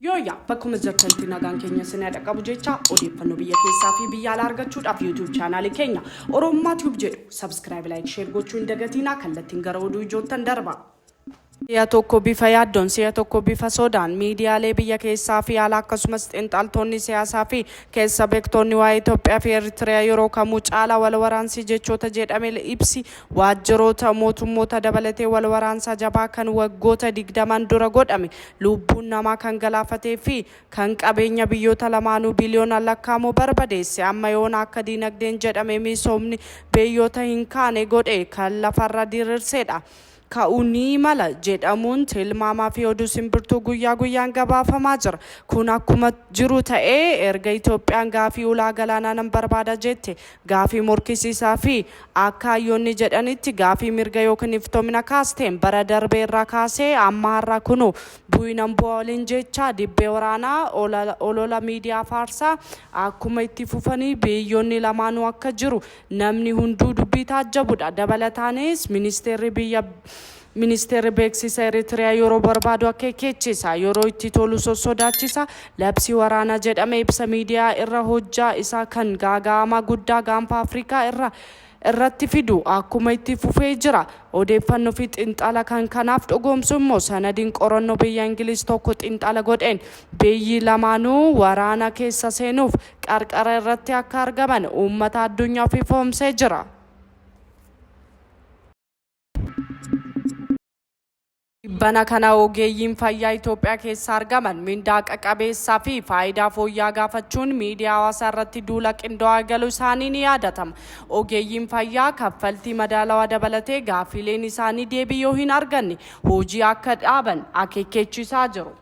Yooyyaa bakkuma jirtanitti nagaan keenya isin dhaqqabu jecha odeeffannoo biyya keessaa fi biyya alaa argachuudhaaf YouTube chaanaalii keenya Oromummaa Tube jedhu subscribe like share gochuu hin dagatinaa kallattiin gara oduu ijoottan darba. Si'a tokko bifa yaaddoon, si'a tokko bifa sodaan miidiyaalee biyya keessaa fi alaa akkasumas xinxaltoonni siyaasaa fi keessa bektoonni waa'ee Itoophiyaa fi Eritrea yeroo kamuu caalaa wal waraansi jechoota jedhamel ibsi waajjiroota mootummoota dabalatee wal waraansaa jabaa kan waggoota 20n dura godhame luubbuun namaa kan galaafatee fi kan qabeenya biyyoota lamaanuu biliyoonaan lakkaa'amu barbadeesse amma yoona akka diinagdeen jedhame miisoomni beyyoota hin kaane godhe kan lafarra dirirseedha. ka'uu ni mala jedhamuun tilmaamaa fi oduu simbirtuu guyyaa guyyaan gabaafamaa jira. Kun akkuma jiru ta'ee erga Itoophiyaan gaafii ulaa galaanaa nan barbaada jette gaafii morkisiisaa fi akka hayyoonni jedhanitti gaafii mirga ykn iftoomina kaasteen bara darbee irraa kaasee amma har'aa kunoo bu'i nan bu'a waliin jechaa dibbee waraanaa olola miidiyaa faarsaa akkuma itti fufanii biyyoonni lamaanuu akka jiru Namni hunduu dubbii taajjabudha. Dabalataanis ministeerri biyya Ministeerri beeksisa Eritrea yeroo barbaadu akeekkeechisa, yeroo itti tolu sossodaachisa, labsii waraanaa jedhame ibsa miidiyaa irra hojjaa isaa kan gaaga'amaa guddaa gaanfa Afrikaa irra irratti fidu akkuma itti fufee jira. Odeeffanno fi xinxala kan kanaaf dhugoomsu immoo sanadiin qoranno biyya Ingiliz tokko xinxala godheen biyyi lamaanuu waraana keessa seenuuf qarqara irratti akka argaman uummata addunyaaf ifoomsee jira. Tibbana kana ogeeyyiin fayyaa Itoophiyaa keessa argaman mindaa qaqabeessaa fi faayidaa fooyya'aa gaafachuun miidiyaa hawaasaa irratti duula qindaa'aa eegaluu isaanii ni yaadatama. Ogeeyyiin fayyaa kaffaltii madaalawaa dabalatee gaaffiileen isaanii deebii yoo hin arganne hojii akka dhaaban akeekkeechiisaa jiru.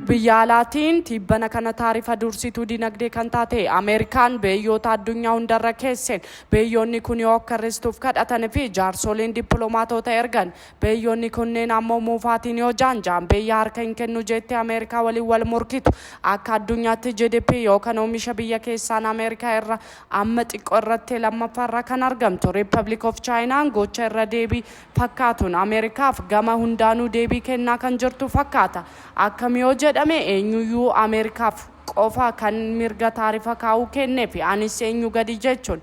Biyya alaatiin tibbana kana taarifa dursituu dinagdee kan taate Ameerikaan beeyyoota addunyaa hundarra keesseen beeyyoonni kun yoo akka hir'istuuf kadhatan fi jaarsoliin dippiloomaatoota ergan beeyyoonni kunneen ammoo muufaatiin yoo jaanjaan beeyya harka hin kennu jeettee Ameerikaa waliin wal morkitu akka addunyaatti GDP yookaan oomisha biyya keessaan Ameerikaa irra amma xiqqoo irratti lammaffaarra kan argamtu Republic of Chaayinaan gocha irra deebii fakkaatuun Ameerikaaf gama hundaanuu deebii kennaa kan jirtu fakkaata. Akkam yoo jedhame eenyuyyuu Ameerikaaf qofa kan mirga taarifa kaa'uu kenneefi anis eenyu gadi jechuun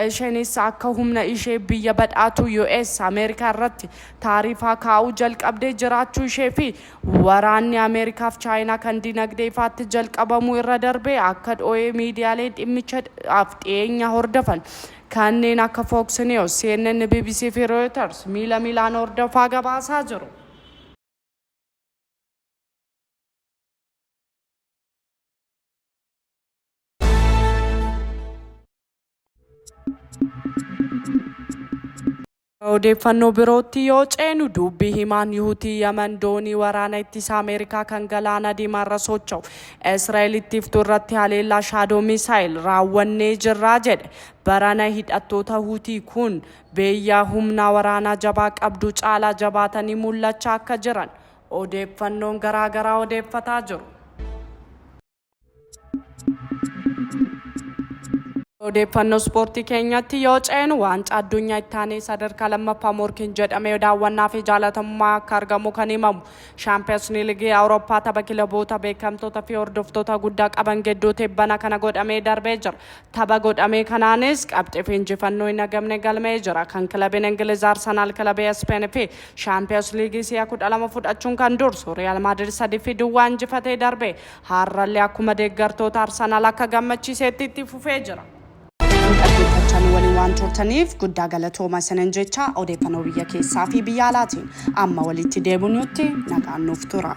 isheenis akka humna ishee biyya badhaatuu US Ameerikaa irratti taarifaa kaa'uu jalqabdee jiraachuu ishee fi waraanni Ameerikaaf Chaayinaa kan dinagdee ifaatti jalqabamuu irra darbee akka dhooyee miidiyaaleen dhimmichaaf dhiyeenya hordofan Kanneen akka Fox News, CNN, bbc fi Reuters miila miilaan hordofaa gabaasaa jiru. Odeeffannoo birootti yoo ceenu duubbi himaan Yuhutii Yaman doonii waraana ittisa Ameerikaa kan galaana diimaarra socho'u Israa'el ittiiftu irratti haleellaa shaadoo misaayil raawwannee jirraa jedhe. Barana hidhattoota Hutii kun beeyyaa humnaa waraanaa jabaa qabdu caalaa jabaatanii mul'achaa akka jiran odeeffannoon garaa garaa odeeffataa jiru. Odeeffannoo ispoortii keenyatti yoo ceenu waancaa addunyaa itti aanee sadarkaa lammaffaa morkiin jedhamee daawwannaa fi jaalatamummaa akka argamu kan himamu shaampiyoonsni ligii awurooppaa tapha kilaboota beekamtoota fi hordoftoota guddaa qaban gidduu tibbana kana godhamee darbee jira. Tapha godhamee kanaanis qabxii fi injifannoo hin agamne galmee jira. Kan kilabiin Ingiliz Arsenaal kilabii Ispeen fi shaampiyoons liigii si'a kudha lama fudhachuun kan dursu Riyaal Maadirid sadii fi duwwaa injifatee darbee Harrallee akkuma deeggartoota Arsenal akka gammachiiseetti itti fufee jira. Nu dhaggeeffachaa nu waliin waan turtaniif guddaa galatooma isinin jecha odeeffannoo biyya keessaa fi biyya alaatiin amma walitti deebinutti nagaan nuuf tura.